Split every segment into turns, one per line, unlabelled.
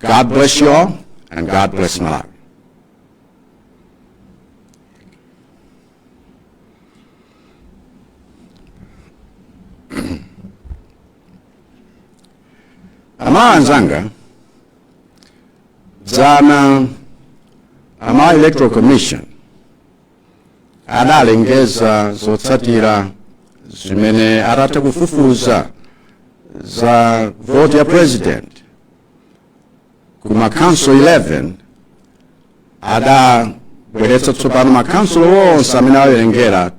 God bless you all, and God bless Malawi. amayi anzanga dzana amayi electoral commission adalengeza zotsatira zimene atatha kufufuza za voti ya president ku makhansolo 11 adabweretsa tsopano makhansolo onse amene awerengedwa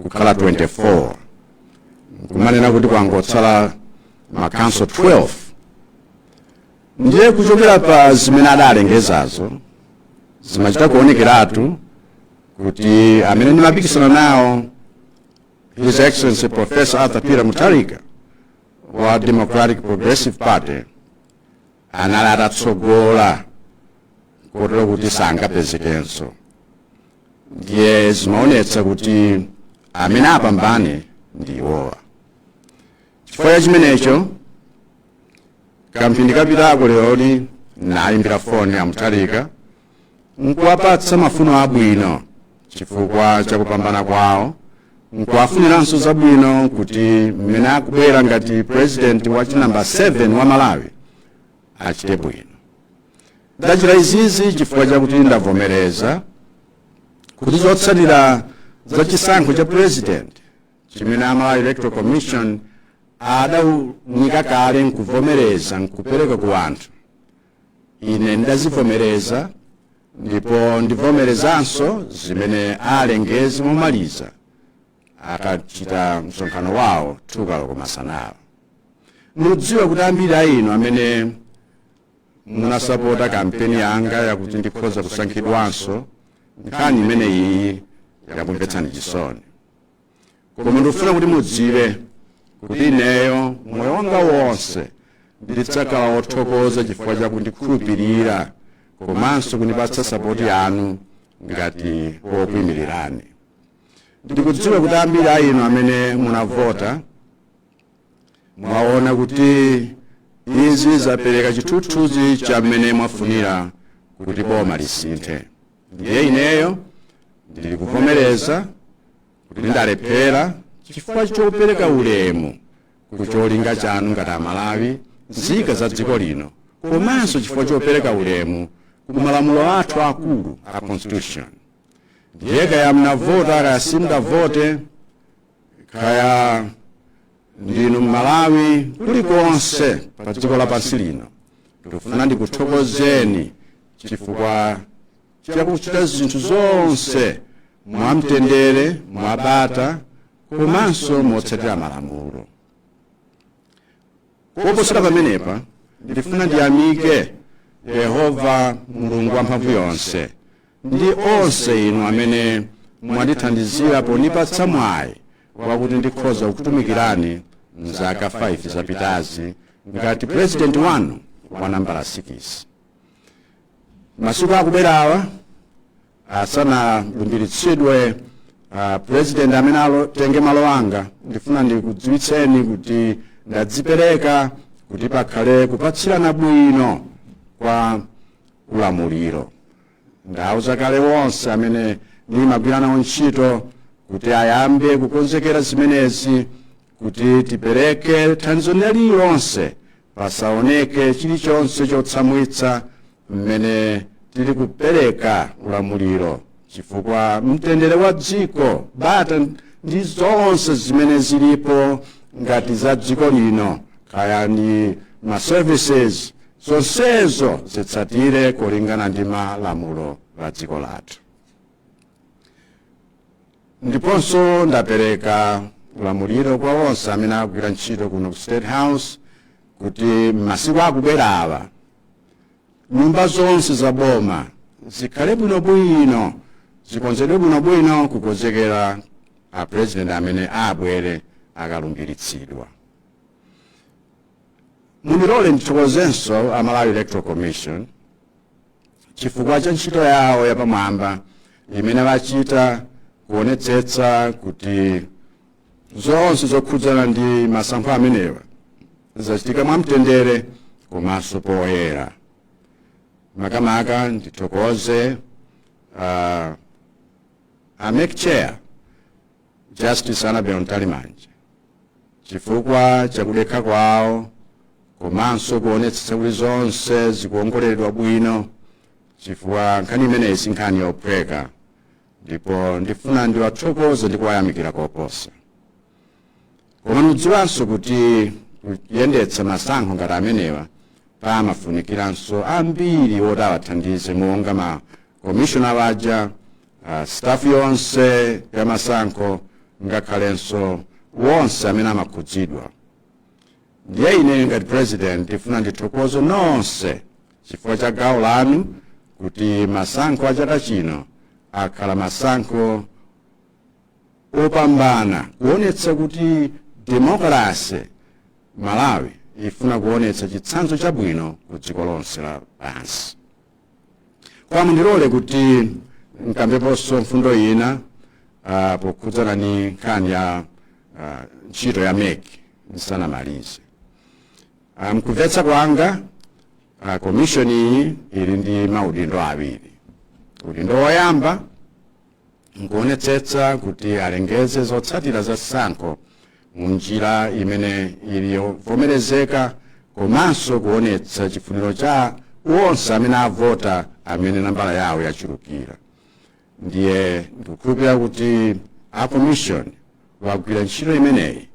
kukhala 24 nkumanena kuti kwangotsala makhansolo 12 ndiye kuchokera pa zimene adalengezazo zimachita kuonekeratu kuti amene ndimapikisana nawo his excellency professor arthur peter mutharika wa democratic progressive party anali atatsogola kotero kuti sangapezekenso ndiye zimaonetsa kuti amene apambane ndi iwowa chifukwa cha chimenecho kamphindi kapitako leroli ndayimbira foni a mutharika nkuwapatsa mafuno abwino chifukwa cha kupambana kwawo nkuwafuniranso zabwino kuti mmene akubwera ngati president wa chinambala 7 wa malawi achite bwino ndachita izizi chifukwa chakuti ndavomereza kuti zotsatira za chisankho cha president chimene a malawi electoral commission adaunika kale nkuvomereza nkupereka ku anthu ine ndidazivomereza ndipo ndivomerezanso zimene alengeze momaliza akachita msonkhano wawo chakumasanaku ndidziwa kuti ambiri a inu amene munasapota kampeni yanga yakuti ndikhoza kusankhidwanso nkhani imeneyi yakumvetsani chisoni koma ndikufuna kuti mudziwe kuti ineyo moyo wanga wonse ndidzakhala wothokoza chifukwa cha kundikhulupirira komanso kundipatsa sapoti yanu ngati wokuimirirani ndikudziwa kuti ambiri a inu amene munavota mwaona kuti izi zapereka chithunzithunzi cha mmene mwafunira kuti boma lisinthe ndiye ineyo ndili kuvomereza kuti ndalephera chifukwa chopereka ulemu ku cholinga chanu ngati amalawi nzika za dziko lino komanso chifukwa chopereka ulemu ku malamulo athu akulu a constitution ndiye kaya munavota kaya simudavote kaya ndinu mmalawi kulikonse pa dziko lapansi lino ndikufuna ndikuthokozeni chifukwa chakuchita zinthu zonse mwamtendere mwabata komanso motsatira malamulo koposera pamenepa ndifuna ndiyamike yehova mulungu wamphamvu yonse ndi onse inu amene mwandithandizira pondipatsa mwayi wakuti ndikhoza kukutumikirani mzaka 5 zapitazi ngati purezidenti wanu wa nambala 6 m'masiku akubwerawa asanalumbiritsidwe uh, president amene atenge malo anga ndifuna ndikudziwitseni kuti ndadzipereka kuti pakhale kupatsirana bwino kwa ulamuliro ndauza kale onse amene ndimagwira nawo ntchito kuti ayambe kukonzekera zimenezi kuti tipereke thandizo lililonse pasaoneke chilichonse chotsamwitsa mmene tili kupereka ulamuliro chifukwa mtendere wa dziko bata ndi zonse zimene zilipo ngati za dziko lino kaya ndi ma services zonsezo zitsatire kulingana ndi malamulo a dziko lathu ndiponso ndapereka ulamuliro kwa onse amene akugwira ntchito kuno ku state house kuti m'masiku akubwerawa nyumba zonse za boma zikhale bwinobwino zikonzedwe bwinobwino kukonzekera a president amene abwere akalumbiritsidwa mundilole ndithokozenso a malawi electoral commission chifukwa cha ntchito yawo yapamwamba imene achita kuonetsetsa kuti zonse zokhudzana ndi masankho amenewa zachitika mwamtendere komanso poyera makamaka ndithokoze uh, a MEC chair Justice Annabel Mtalimanja chifukwa chakudekha kwawo komanso kuonetsetsa kuti zonse zikuongoleredwa bwino chifukwa nkhani imeneyi si nkhani yophweka ndipo ndifuna ndiwathokoze ndi kuwayamikira koposa koma mudziwanso kuti kuyendetsa masankho ngati amenewa pamafunikiranso ambiri oti awathandize monga ma commissioner aja uh, staff yonse ya masankho ngakhalenso onse amene amakhudzidwa ndiye ine ngati president ndifuna ndithokoze nonse chifukwa cha gawo lanu kuti masankho a chaka chino akhala masankho opambana kuonetsa kuti demokrasi malawi ifuna kuonetsa chitsanzo chabwino ku dziko lonse lapansi koma mundilole kuti nkambeponso mfundo ina ah, pokhudzana ndi nkhani ya ah, ntchito ya mec ndisanamalize Ah, mkumvetsa kwanga ah, komishoni iyi ili ndi maudindo awiri udindo woyamba nkuonetsetsa kuti alengeze zotsatira za chisankho mu njira imene ili yovomerezeka komanso kuonetsa chifuniro cha onse amene avota amene nambala yawo yachulukira ndiye ndikukhulupirira kuti a commission wagwira ntchito imeneyi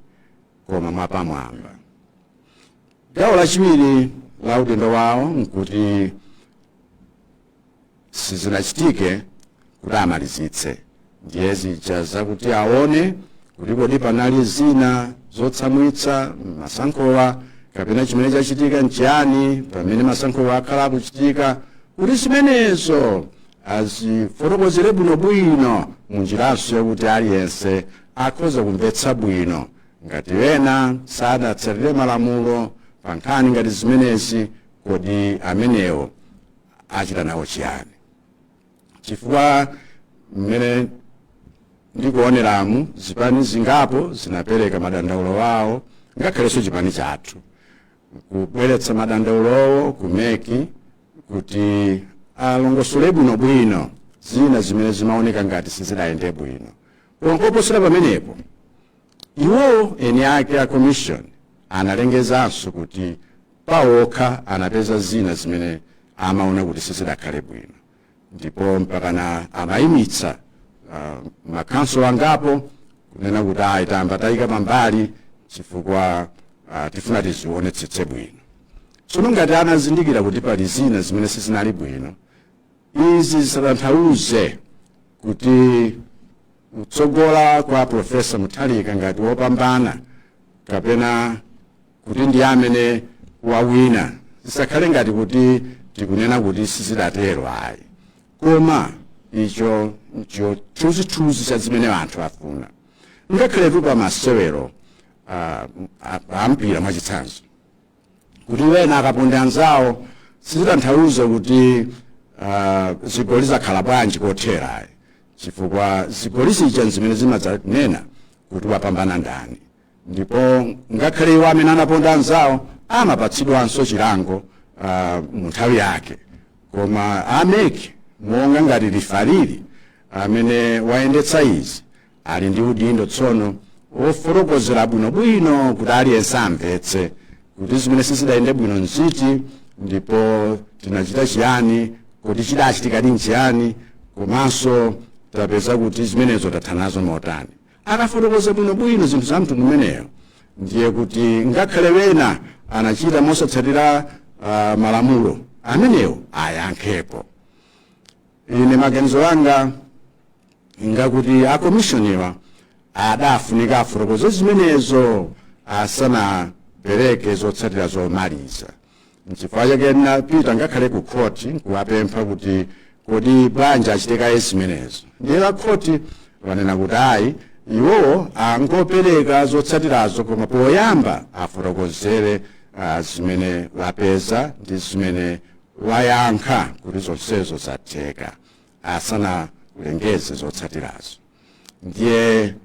koma mwapamwamba gawo lachiwiri la udindo wawo nkuti sizinachitike kuti amalizitse ndiye zija zakuti aone kuti kodi panali zina zotsamwitsa m'masankhowa kapena chimene chachitika nchiyani pamene masankhowa akhala akuchitika kuti zimenezo azifotokozere bwinobwino munjiranso yakuti aliyense akhoza kumvetsa bwino ngati ena sadatsatire malamulo pa nkhani ngati zimenezi kodi amenewo achita nawo chiyani chifukwa mmene ndikuoneramu zipani zingapo zinapereka madandaulo awo ngakhalenso chipani chathu kubweretsa madandaulowo ku meki kuti alongosole bwinobwino zina zimene zimaoneka ngati sizidayende bwino ndipo kuposera pamenepo Iwo eni ake a Commission analengezanso kuti pawo okha anapeza zina zimene amaona kuti sizidakhale bwino ndipo mpakana amayimitsa uh, makhonsolo angapo kunena kuti ayi tayamba tayika pambali chifukwa uh, tifuna tizionetsetse bwino tsono ngati anazindikira kuti pali zina zimene sizinali bwino izi zisatanthauze kuti kutsogola kwa Professor Mutharika ngati wopambana kapena kuti ndiye amene wawina zisakhale ngati kuti tikunena kuti sizidatero ayi koma icho ncho chithunzithunzi cha zimene anthu afuna ngakhaletu pa masewero ah, a- a mpira mwachitsanzo kuti wena akaponda anzawo sizitanthauza kuti ah, zigoli zakhala bwanji kothera ayi chifukwa zigoli zija nzimene zimadzanena kuti wapambana ndani ndipo ngakhale iwo amene anaponda anzawo amapatsidwanso chilango ah, mu nthawi yake koma a meki monga ngati lifali amene wayendetsa izi ali ndi udindo tsono wofotokozera bwinobwino kuti aliyense amvetse kuti zimene sizidayende bwino nziti ndipo tinachita chiyani kodi chidachitikadi nchiyani komanso tapeza kuti zimenezo tathanazo motani akafotokoza bwinobwino zinthu za mtundu umeneyo ndiye kuti ngakhale wena anachita mosatsatira uh, malamulo amenewo ayankhepo ine maganizo anga ngakuti akomishoniwa adafunika afotokoze zimenezo asanapereke zotsatira zomaliza nchifukwa chake ndinapita ngakhale ku khoti nkuwapempha kuti kodi bwanji achite kaye zimenezo ndiye a khoti wanena kuti ayi iwowo angopereka zotsatirazo koma poyamba afotokozere ah, zimene wapeza ndi zimene wayankha kuti zonsezo zatheka asanalengeze zotsatirazo ndiye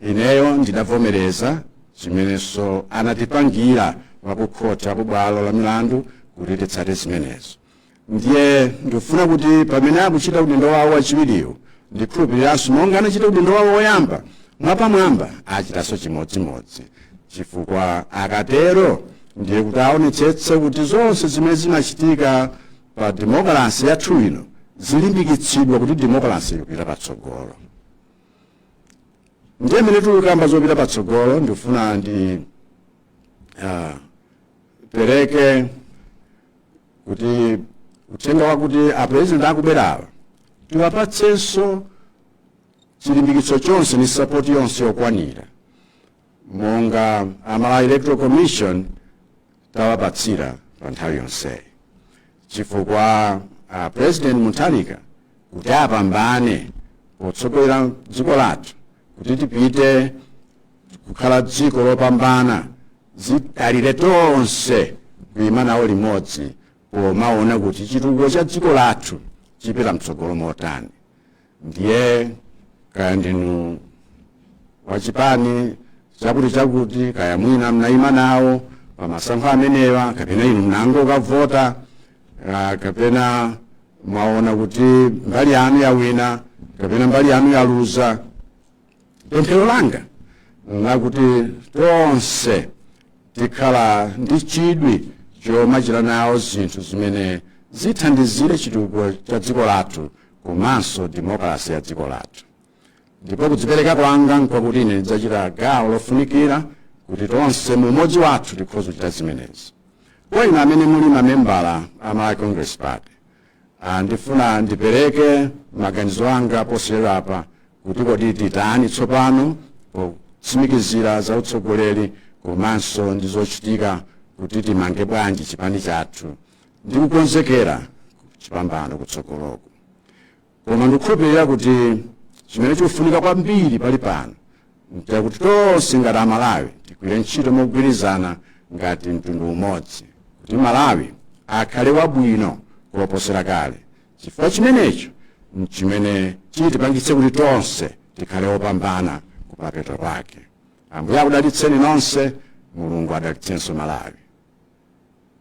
ineyo ndidavomereza zimenenso anatipangira wakukhoti aku bwalo la milandu kuti titsate zimenezo ndiye ndikufuna kuti pamene akuchita udindo wawo wachiwiriwo ndikhulupiriranso monga anachita udindo wawo woyamba mwapamwamba achitanso chimodzimodzi chifukwa akatero ndiye kuti aonetsetse kuti zonse zimene zimachitika pa demokalase yathu ino zilimbikitsidwa kuti demokalase ipite patsogolo ndiye mene tikukamba zopita patsogolo ndikufuna ndi ah, pereke kuti uthenga wakuti apurezidenti akubwerawa tiwapatsenso chilimbikitso chonse ndi sapoti yonse yokwanira monga a Malawi Electoral Commission tawapatsira pa nthawi yonseyi chifukwa a President Mutharika kuti apambane potsogolera dziko lathu kuti tipite kukhala dziko lopambana zidalire tonse kuima nawo limodzi pomaona kuti chitukuko cha dziko lathu chipita mtsogolo motani ndiye kaya ndinu wachipani chakuti chakuti kaya mwina mnayima nawo pamasankho amenewa kapena inu mnango ukavota ah, kapena mwaona kuti mbali yanu yawina kapena mbali yanu yaluza pemphero langa nlakuti tonse tikhala ndi chidwi chomachita nawo zinthu zimene zithandizire chitukuko cha dziko lathu komanso demokalasi ya dziko lathu ndipo kudzipereka kwanga nkwakuti ine ndidzachita gawo lofunikira kuti tonse mu umodzi wathu tikhoza kuchita zimenezi kwa inu amene muli mamembala a malawi congress party Ah, ndifuna ndipereke maganizo anga posachedwapa kuti kodi titani tsopano potsimikizira za utsogoleri komanso ndi zochitika kuti timange bwanji chipani chathu ndi kukonzekera chipambano kutsogoloku koma ndikukhulupirira kuti chimene chikufunika kwambiri palipano nchakuti tonse ngati amalawi tigwire ntchito mogwirizana ngati mtundu umodzi kuti malawi akhale wabwino koposera kale chifukwa chimenecho nchimene chitipangitse kuti tonse tikhale opambana kumapeto kwake ambuye akudalitseni nonse mulungu adalitsenso malawi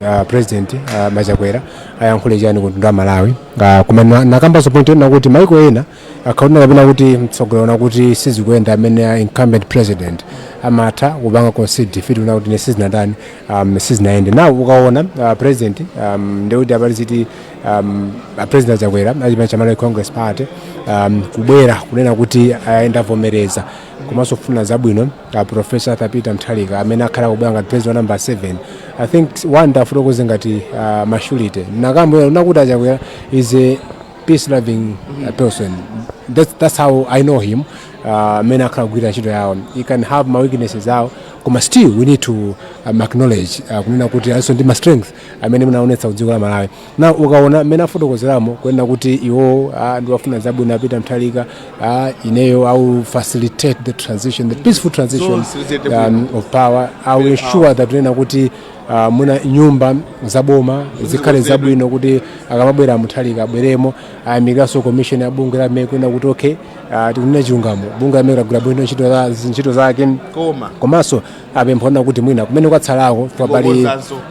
Uh, president uh, a chakwera ayankhule chani ku mtundu wa amalawi uh, koma na- nakambanso point yonena kuti maiko ena akaona kapena kuti mtsogoleri waona kuti sizikuyenda amene a incumbent president amatha kupanga concede defeat kunena kuti ine sizinatani um, sizinayende na ukaona uh, president um, ndekuti apali ziti um, a president chakwera achipani cha malawi congress party um, kubwera kunena kuti ine ndavomereza komanso kuwafunira zabwino uh, professor arthur peter mutharika amene akhale akubwera ngati president wa number 7 i think one ndifotokoze ngati uh, mashulite anakamba kunena kuti achakwera is a peace loving uh, person that's, that's how i know him amene uh, akhala akugwira ntchito yawo he can have ma weaknesses awo koma still we need to um, acknowledge uh, kunena kuti alinso ndi ma strength amene anaonetsa ku dziko la malawi na ukaona mmene afotokozeramo kunena kuti iwo ah, ndiwafunira zabwino a peter mutharika ah, ineyo i will facilitate the transition the peaceful transition um, of power i will ensure that kunena kuti uh, mwina nyumba zaboma zikhale zabwino kuti akamabwera a mutharika abweremo ayamikiranso commission ya bungwe la mec kunena kuti okay uh, tikanena chilungamo bungwe la mec lagwira bwino ntchito za- ntchito zake koma komanso apempha kunena kuti mwina kumene kwatsalako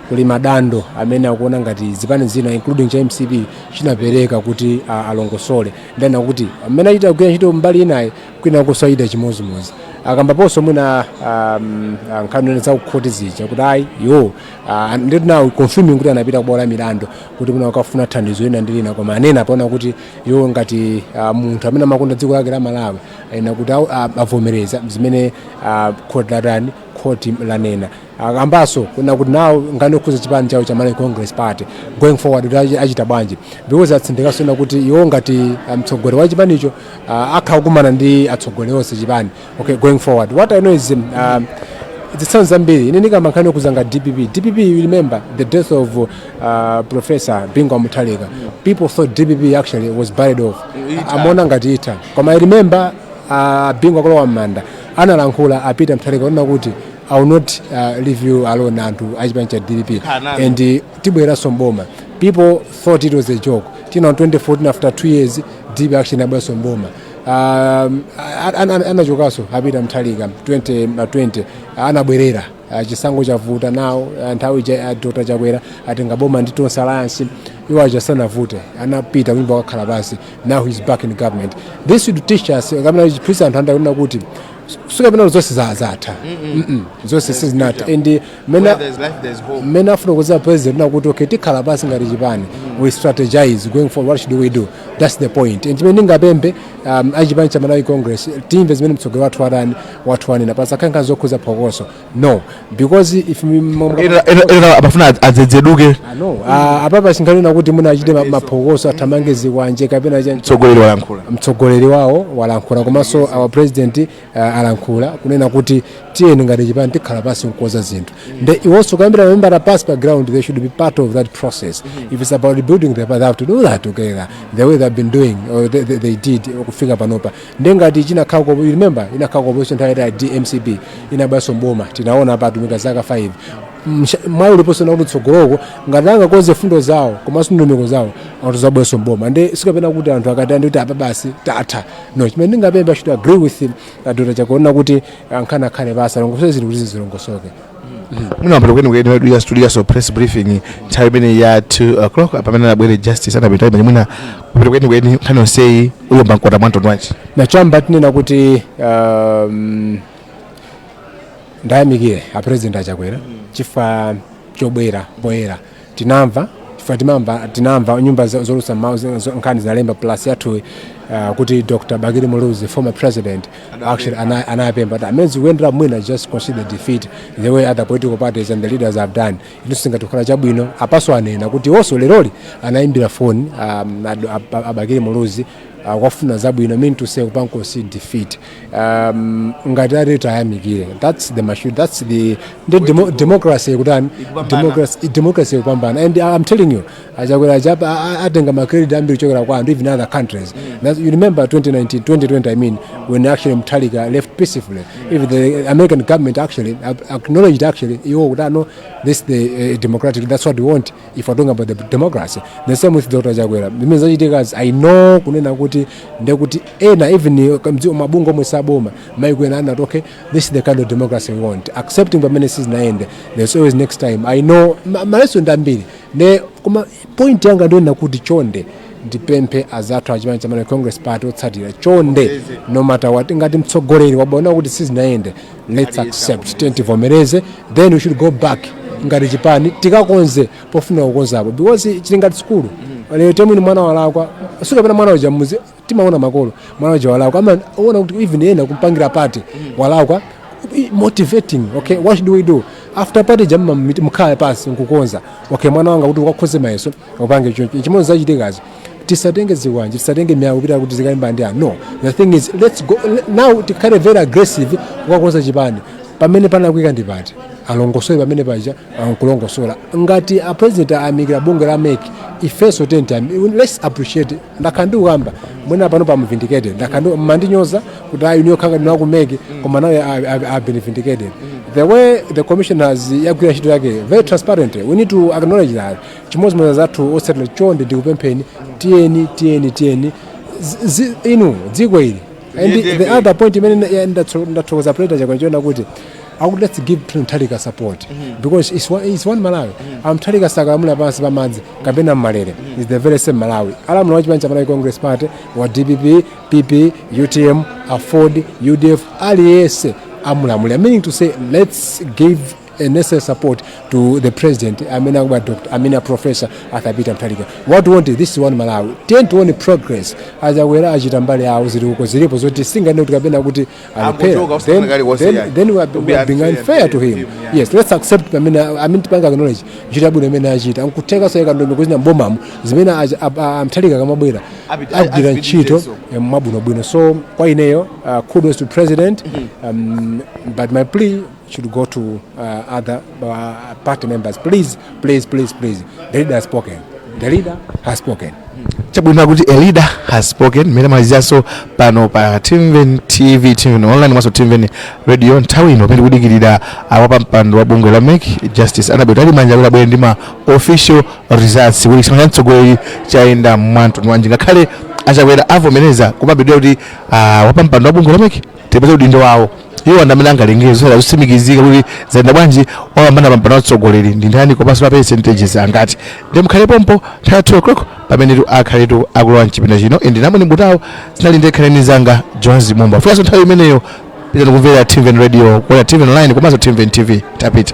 kuli madando amene akuona ngati zipani zina including cha mcp chinapereka kuti a- alongosole ndana kuti amene achita kugwira ntchito mbali inayi kwina kusayida chimodzimodzi akambaponso mwina um, ah, nkhani ine za kukhoti zija kuti ayi iwo ah, nditi nawo confirming kuti anapita kubwalo la milandu kuti mwina akafune thandizo lina ndi lina koma anenapo kunena kuti iwo ngati ah, munthu amene amakonda dziko lake la malawi ena kuti awo- a- avomereza zimene ah, khoti latani khoti lanena akambaso kuna kuti nawo ngani okhuza chipani chawo cha malawi congress party going forward kuti achi- achita bwanji because atsindikaso kunena kuti iwo ngati ah, mtsogoleri wa chipanicho ah, akhala akukumana ndi atsogoleri onse chipani okay going forward what i know is um, ah, zitsanzo zambiri ine ndikamba nkhani yokhuza ngati dpp dpp you remember the death of uh, uh, professor bingu a Mutharika people thought dpp actually was buried off amaona ngati itha koma i remember uh, bingu akulowa m'manda analankhula a Peter Mutharika onena kuti i will not uh, leave you alone anthu achipani cha dpp and uh, tibwereranso mboma people thought it was a joke tina 2014 after two years dpp actually inabweranso mboma um, anachokanso a Peter Mutharika 2020 anabwerera Ah, chisankho chavuta nawo ah, nthawi ija ah, dr chakwera atenga boma ndi tonse alliance iwo aja sanavute anapita kunyumba kukakhala pansi now he's back in government this should teach us kapena chiphunzitsa anthu andale kunena kuti sikapena kuti zonse za- zatha zonse sizinatha and eh, mena Where there's life, there's hope. mmene afotokozera president kunena kuti okay tikhala pansi ngati chipani we strategize going forward what should we do that's the point and chimene ndingapemphe um, achipani cha malawi congress timve zimene mtsogoleri wathu watani wathu wanena pasakhale nkhani zokhudza phokoso no because if mi- mo- mo- Ena- ena- ena amafuna adz- adzedzeduke Ah, no Ah, apapa singanena kuti mwina achite ma- maphokoso athamange zikwanje kapena cha- mtsogoleri walankhula mtsogoleri wawo walankhula komanso our president uh, alankhula kunena kuti tiyeni ngati chipani tikhala pansi nkukonza zinthu nde iwonso kuyambira membala pansi pa ground they should be part of that process if it's about building the party they have to do that together the way they've been doing or they, they, they did kufika panopa nde ngati chinakhala ku you remember inakhala ku opposition nthawi yaitali mcp inabweranso mboma tinaona apa atumika zaka 5 Msha- mwayi uliponso kunena kuti mtsogoloko ngati angakonze mfundo zawo komanso ndondomeko zawo atha kuzabweranso mboma nde sikapena kuti anthu akataye mtima kuti apa basi tatha no chimene ndingapempha should agree with him uh, dr chakwera kuti ankhani akhale pansi alongosole zinthu kuti zizilongosoke munawambira kweni kweni wedu ya studio so press briefing nthawi imene ya 2 o'clock apa pamene anabwere justice anapita imene mwina kupita kweni kweni nkhani yonseyi uyomba mkota mwa mtundu wanji nachamba tinena kuti um, ndayamikire a president achakwera chifukwa chobwera poyera tinamva chifukwa timamva tinamva nyumba zo- zoulutsa mawu zina zo- nkhani zinalemba plus yathu uh, kuti dr bakili muluzi former president actually ana- anapempha kuti amene sizikuyendera mwina just consider defeat the way other political parties and the leaders have done ichi chingathe kukhala chabwino apanso anena kuti iwonso leroli anayimbira foni um, ad- ab- a bakili muluzi akwafuna zabwino mean to say kupankosi defeat um, ngati ati tayamikire that's the machine that's the ndi demo, democracy ikutani Ikupambana. democracy democracy ikupambana and i'm telling you achakwera achapa a- a- atenga macredit ambiri chokera kwa anthu even other countries That's, you remember 2019 2020 i mean when actually mtalika left peacefully even the american government actually ac- acknowledged actually iwo kutano this the uh, democratic that's what we want if we're talking about the democracy the same with dr chakwera zimene zachitikazi i know kunena kuti ndekuti ena even mdziko mabungwe omwe si aboma maiko ena anati okay this is the kind of democracy we want accepting pamene sizinayende there's always next time i know ma- malesoni ndi ambiri koma point yanga ndiyonena kuti chonde ndipemphe azathu achipani cha malawi congress party otsatira chonde no matter what ngati mtsogoleri waona kuti sizinayende let's accept tiyeni tivomereze then we should go back ngati chipani tikakonze pofuna kukonzapo because zili ngati sukulu let's say mwina mwana walakwa sikapena mwana uja muzi timaona makolo mwana uja walakwa amaona kuti even ena kumpangira party walakwa i- motivating okay what should we do after party ija mumakhala pansi nkukonza okay mwana wanga kuti ukakhoze mayeso upange choncho chimodzi zachitikazi tisatenge zikwanje tisatenge miyala kupita kuti tikalimbane ndi anthu no the thing is let's go le- now tikhale very aggressive kukakonza chipani pamene panalakwika ndi pati alongosole pamene paja ankulongosola ngati a president ayamikira bungwe la mec ifenso tenti let's appreciate ndakhala ndikukamba mwina panopa vindicated ndakhala ndi- mmandinyoza kuti ayi niyo khanga ndinaku mec koma now I have been vindicated the way the commission has yagwira ntchito yake very transparent we need to acknowledge that chimodzimodzi zathu otsatira chonde ndikupempheni tiyeni tiyeni tiyeni Zi- zi- inu dziko ili and Liyendebe. the other point imene na- ya- ndatso- ndathokoza president chakwera chonena kuti akuti let's give to mutharika support because it's one, it's one malawi amutharika sakalamula pansi pamadzi kapena mmalere is the very same malawi alamula wa chipani cha malawi congress party wa dpp pp utm aford udf aliyense amulamulira meaning to say let's give a necessary support to the president amene akubwera doctor amene a professor arthur peter mutharika what we want is this one malawi ten to one progress achakwera achita mbali yawo zili uko zilipo zoti sitinganene kuti kapena kuti alephera Akuchoka, then, usikunena kalikonse then, ayi. then we are, we are being unfair to him yes let's accept amene amene tipanga acknowledge ntchito yabwino imene achita nkuthekanso ikandombe kuzina mbomamo zimene acha- a- a- amutharika akamabwera Abit- agwira azipitirize ntchito so. eh, mwabwinobwino so kwa ineyo uh, kudos to president um, but my plea should go to uh, other uh, party members. Please, please, please, please. The leader has spoken. The leader has spoken. chabwino kuti the leader has spoken mmene maliziranso pano pa timveni tv timveni online komanso timveni radio nthawi ino pamene tikudikirira a wapampando wa bungwe la mec justice annabel mtalimanja kuti abwere ndi ma official results kuti chisankho cha mtsogoleri chayenda mwamtundu wanji ngakhale achakwera avomereza kumabedwa kuti ah, wapampando wa bungwe la mec tipeze udindo wawo iwo ndi amene angalengeze zotsatira zotsimikizika kuti zayenda bwanji wapambana pampando wa utsogoleri ndi ndani komanso pa percentages angati ndiye mukhale pompo nthawi ya 2 o'clock pamene tu akhale tu akulowa mchipinda chino ende namwe nimbutawo zinali ndi khalani zanga jones mumba kufikanso nthawi imeneyo pitirizani kumvera timveni radio kuona timveni online komanso timveni tv tapita